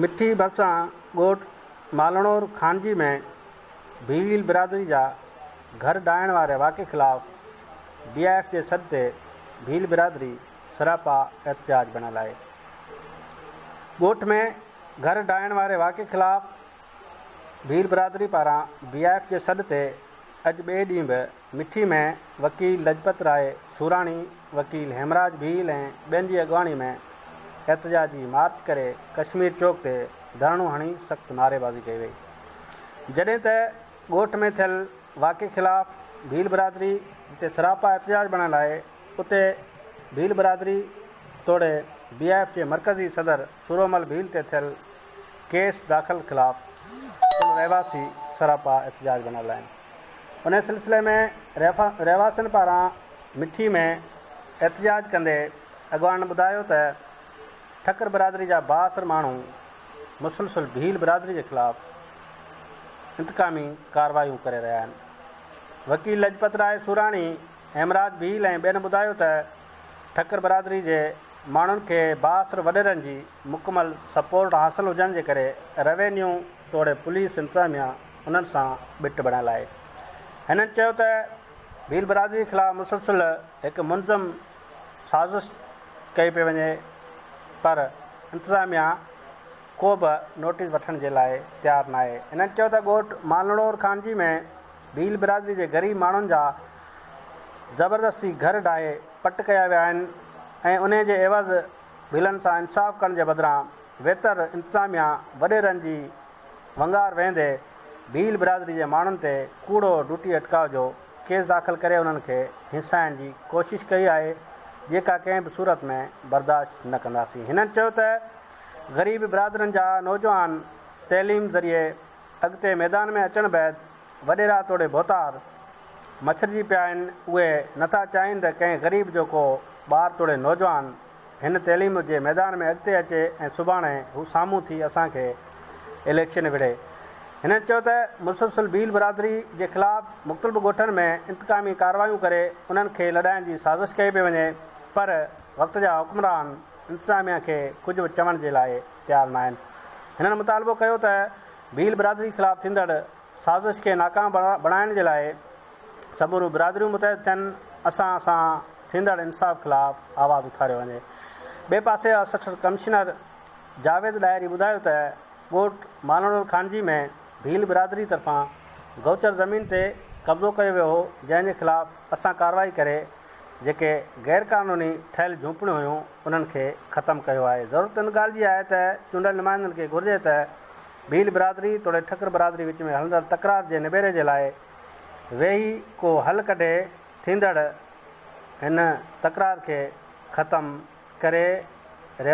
مٺي ڀرسان ڳوٺ مالهڻور خانجي ۾ ڀيل برادري جا گهر ڊاهڻ واري واقعي خلاف ڊي آء ايف جي سڏ تي ڀيل برادري سراپا احتجاج بڻ هلائي ڳوٺ ۾ گهر ڊاهڻ واري واقعي خلاف ڀيل برادري پاران ڊي آء ايف جي سڏ تي اڄ ٻئي ڏينهن به مٺي ۾ وڪيل لجپت راء سوراڻي، وڪيل هيمراج ڀيل ۽ ٻين جي اڳواڻي ۾ احتجاجي مارچ ڪري ڪشمير چوڪ تي ڌرڻو هڻي سخت نعريبازي ڪئي وئي. جڏهن ته ڳوٺ ۾ ٿيل واقعي خلاف ڀيل برادري جتي سراپا احتجاج بڻيل آهي اتي ڀيل برادري توڙي بي آء ايف جي مرڪزي صدر سورومل ڀيل تي ٿيل ڪيس داخل خلاف پڻ رهواسي سراپا احتجاج بڻيل آهن. انهيء سلسلي ۾ رهواسين پاران مٺي ۾ احتجاج ڪندي اڳواڻن ٻڌايو ته ٺڪر برادري جا بااثر ماڻهو مسلسل ڀيل برادري جي خلاف انتقامي ڪارروايون ڪري رهيا آهن. وڪيل لجپت راء سوراڻي، هيمراج ڀيل ۽ ٻين ٻڌايو ته ٺڪر برادري جي ماڻهن کي بااثر وڏيرن جي مڪمل سپورٽ حاصل هجڻ جي ڪري روينيو توڙي پوليس انتظاميا انهن سان ٻٽ بڻڻ لاء. هنن چيو ته ڀيل برادري خلاف مسلسل هڪ منظم سازش ڪئي پئي وڃي پر انتظاميا ڪو به نوٽيس وٺڻ جي لاء تيار ناهي. هنن چيو ته ڳوٺ مالنڙور خانجي ۾ ڀيل برادري جي غريب ماڻهن جا زبردستي گهر ڊاهي پٽ ڪيا ويا آهن ۽ انهي جي عيوض ڀيلن سان انصاف ڪرڻ جي بدران ويتر انتظاميا وڏيرن جي ونگار ويهندي ڀيل برادري جي ماڻهن تي ڪوڙو ڊوٽي اٽڪاء جو ڪيس داخل ڪري انهن کي هينسائڻ جي ڪوشش ڪئي آهي جيڪا ڪنهن به صورت ۾ برداشت نه ڪنداسين هنن چيو ته غريب برادرين جا نوجوان تعليم ذريعي اڳتي ميدان ۾ اچڻ بعد وڏيرا توڙي ڀوتار مڇرجي پيا آهن اهي نٿا چاهين ته ڪنهن غريب جو ڪو ٻار توڙي نوجوان هن تعليم جي ميدان ۾ اڳتي اچي ۽ سڀاڻي هو سامهون ٿي اسان کي اليڪشن وڙهي. هنن چيو ته مسلسل ڀيل برادري جي خلاف مختلف ڳوٺن ۾ انتقامي ڪارروايون ڪري انهن کي لڏائڻ جي سازش ڪئي پئي وڃي پر وقت جا حڪمران انتظاميا کي ڪجهه به چوڻ جي لاء تيار ناهن. هنن مطالبو ڪيو ته ڀيل برادري خلاف ٿيندڙ سازش کي ناڪام بڻائڻ جي لاء سموريون برادريون متحد ٿين، اسان سان ٿيندڙ انصاف خلاف آواز اٿاريو وڃي. ٻئي پاسي اسسٽنٽ ڪمشنر جاويد ڏاهري ٻڌايو ته ڳوٺ مالهڻول خانجي ۾ ڀيل برادري طرفان گوچر زمين تي قبضو ڪيو ويو هو جنهن جي خلاف اسان ڪارروائي ڪري جيڪي غير قانوني ٺهيل جهونپڙيون هيون انهن کي ختم ڪيو آهي ضرورت ان ڳالهه جي آهي ته چونڊيل نمائندن کي گهرجي ته ڀيل برادري توڙي ٺڪر برادري وچ ۾ هلندڙ تڪرار جي نبيري جي لاء ويهي ڪو حل ڪڍي ٿيندڙ هن تڪرار کي ختم ڪري رهيو آهي.